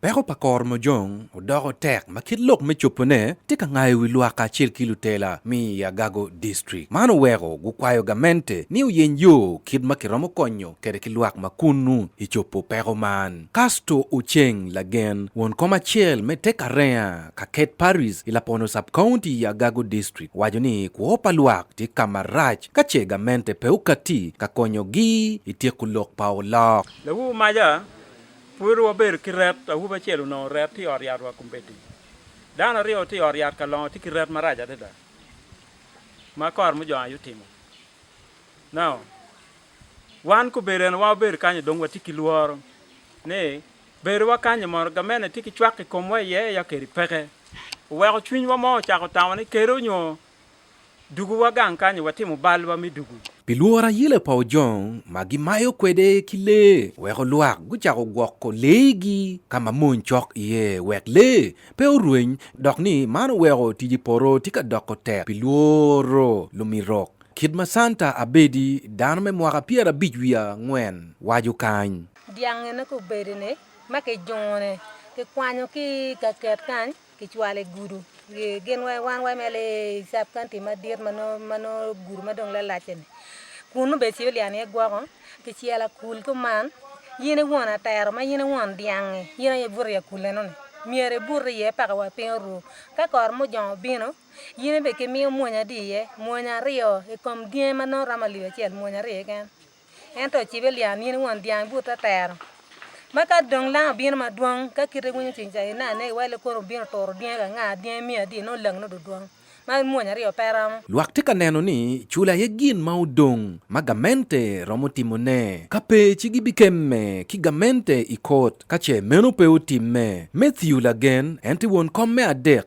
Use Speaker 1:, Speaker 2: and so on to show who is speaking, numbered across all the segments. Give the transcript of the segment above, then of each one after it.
Speaker 1: Peko pa kor
Speaker 2: mojong odoko tek ma kit lok me cobone tye ka ngayo wi lwak kacel ki lutela mi i Agago District. Man oweko gukwayo gamente ni oyeny yo kit ma kiromo konyo kede ki lwak ma kunnu i cobo peko man. Casto Oceng Lagen, won kom acel me te Karenga, Kaket Parish, i Lapono Sub-County i Agago District, owaco ni kwo pa lwak tye ka marac ka ce gamente pe okatti ka konyogi i tyeko lok pa olok. Lawu Maja
Speaker 3: Pud wabedo ki ret, awobi acel onongo ret tye i ot yatwa kombeddi. Dano aryo tye i ot yat ka longo tye ki ret marac adada ma kor mujongo aye otimo. Now, wan kobedo en wa wabedo kanyo dong watye ki lworo ni bedowa kanyi mono gamente tye ki cwak i komwa iye ya kedi peke. Oweko cwinywa mo ocako tamo ni kede onyo Dugu wa gang kany watimo bal wa me dugu. Pi lworo ayele pa
Speaker 2: ojong ma gimayo kwede ki lee weko lwak gucako gwoko lee gi ka ma mony cok iye wek lee pe orweny dok ni man oweko tic i poto tye ka doko tek pi lworo lumirok kit ma Santa Abedi dano me mwaka pyerabic wiye angwen waco kany. Dyangene ka
Speaker 4: obedone ma kijungo ne kikwanyo ki i kaket kany. Kicwalo i gudu gin wai wan wai me lee sub county madit ma nongo gudu ma dong lalac-ce-ni kun nongo bene Civilian aye gwoko kicelo akul kuman in i won atero ma in i won dyang-ngi in aye ibuto i akul eno-ni myero ibut iye paka wa piny oru ka kor mujong obino in bene kimiyo mwonya adi iye mwonya aryo i kom dyangi ma nongo romo alip acel mwonya aryo keken. Ento ocibe lya ni in won dyang but atero, ma ka dong lang obino madwong, ka kite iwinyo cwiny ca ine ane iwa ile kono obino turo dyangi ka nga, dyangi miyo adi, nongo langi nongo dudwong, ma mwonya aryo pe romo.
Speaker 2: Lwak tye ka neno ni cula aye gin ma odong ma gamente romo timone. Ka pe ci gibikemme ki gamente i kot ka ce meno pe otimme. Matthew lagen, en tye won kom me adek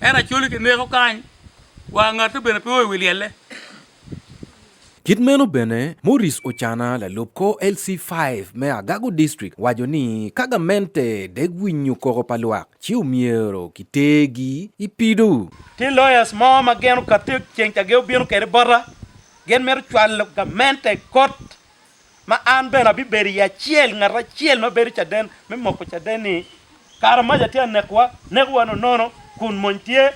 Speaker 3: Ento acoli kineko kany, wa ngate bene pe o i wi lyelle. Kit
Speaker 2: meno bene, Morris Ocana, lalub kor LC five me Agago District, waco ni ka gamente dek winyo koko pa lwak, ci omyero kitergi i pido. Tye lawyers mo
Speaker 3: ma gin okati ceng ka gin obino kwede bota, gin mito cwalo gamente i kot ma an bene abibedo iye acel, ngat acel ma bedo caden me moko caden-ni. Kara maca tye ka nekowa, nekowa nonono, kun mony tye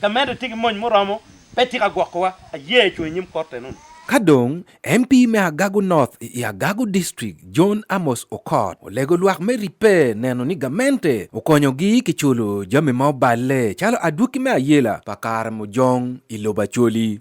Speaker 3: ka medde, tye ki mony muromo, pe tye ka gwokowa. Aye cung i nyim Korte nongo. Ka dong
Speaker 2: MP me Agago North i Agago District, John Amos Okot, olego lwak me ribbe neno ni gamente okonyogi ki culo jami ma oballe calo adwoki me ayela pa kare mujong i lobo Acholi,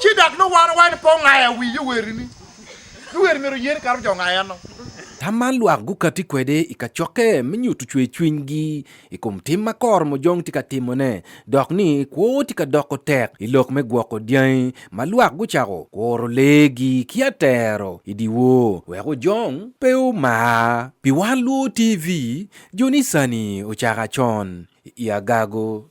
Speaker 5: Ci dok nongo wan owaco ni pe ongayo awi yowerini. Yoweri myero oye ni kato me jo ongayo eno. Tam man lwak
Speaker 2: gukatti kwede i kacokke me nyuto cwercwinygi i kom tim ma kor mojong tye ka timone dok ni kwo tye ka doko tek i lok me gwoko dyangi ma lwak gucako kuro leegi ki atero i dyewor wek ojong pe omar. Pi wan luo TV, jo-ni sani ocako acon i agago.